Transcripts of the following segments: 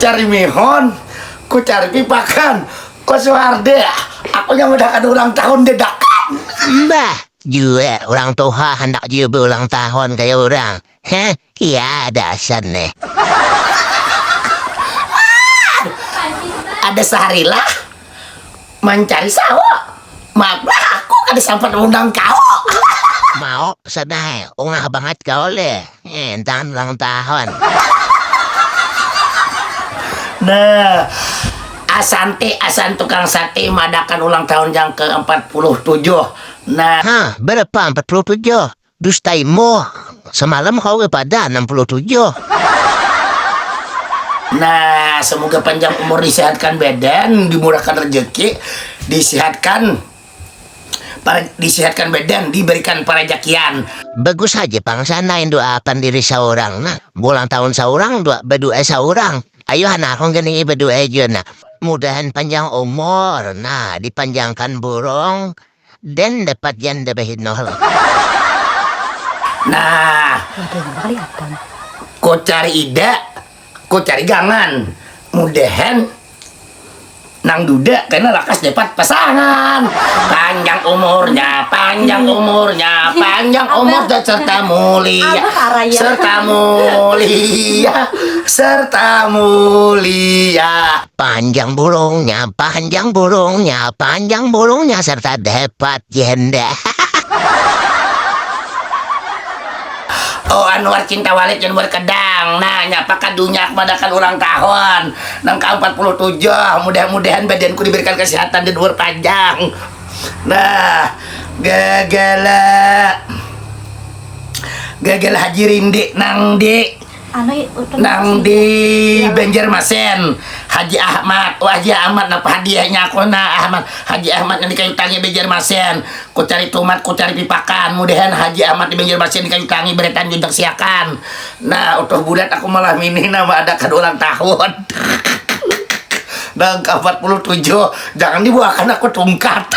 Cari mihun, ku cari pipakan, ku suharde, aku nya udah kada ulang tahun dadakan. Mbah, jua urang tuha handak jua beulang tahun kaya urang, heh, kia ada asan ne. Ada saharilah. Mancari sawo. Maaf bah aku kada sampat maundang kawo. Maoh sadai, ungah bangat kawa leh, intan ulang tahun. Nah, Asanti asan tukang sate maadakan ulang tahun yang ke empat puluh tujuh. Nah. Hah, berapa empat puluh tujuh? Dustai moh, semalam kau kepada 67. Nah semoga panjang umur disehatkan badan dimurahkan rejeki disehatkan para disehatkan badan diberikan parajakian. Bagus haja pang sana indoakan diri saurang nah bulang tahun saurang dua badua saurang ayu hanah aku gini badua jua nah mudahan panjang umur nah dipanjangkan burung dan dapat janda bahinol. Nah, kucari ida, kucari gangan. Mudahan nang duda kena lakas dapat pasangan. Panjang umurnya, panjang umurnya, panjang umur dan serta mulia, serta mulia, serta mulia. Panjang burungnya, panjang burungnya, panjang burungnya serta dapat janda. Oh Anwar cinta Walid yang berkedang Nah nyapa kadunya madakan ulang tahun Nang ka 47 Mudah-mudahan badanku diberikan kesehatan dan umur panjang Nah Gagala Gagala Haji Rindi Nang di Nang di Banjarmasin, Haji Ahmad. Oh, Haji Ahmad, napa hadiahnya aku na Ahmad? Haji Ahmad nang di Kayu Tangi Banjarmasin. Ku cari tumat, ku cari pipakan. Mudahan Haji Ahmad di Banjarmasin di Kayu Tangi beretan juntak siakan. Nah, Utuh Bulat aku malam ini nah maadakan ulang tahun. nang ka 47. Jangan dibuakan aku tungkat.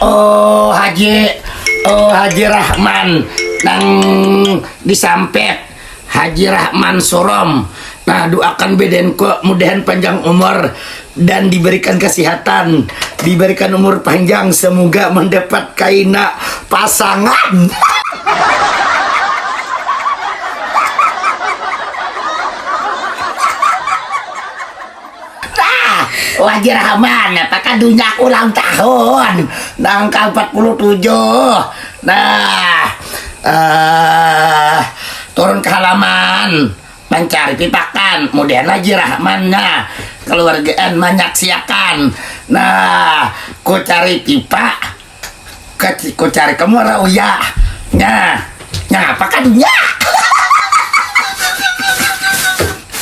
oh haji oh haji rahman nang disampit haji rahman surom nah doakan beden ko mudahan panjang umur dan diberikan kesehatan diberikan umur panjang semoga mendapat kaina pasangan Tah, wajir haman, napa kadunyak ulang tahun nang ka empat puluh tujuh. Nah, uh, turun ke halaman, mancari pipakan, kemudian wajir haman, nah, keluargaan manyaksiakan. Nah, ku cari pipa, ku cari ke muara uya. Nah, nyapa kadunyak?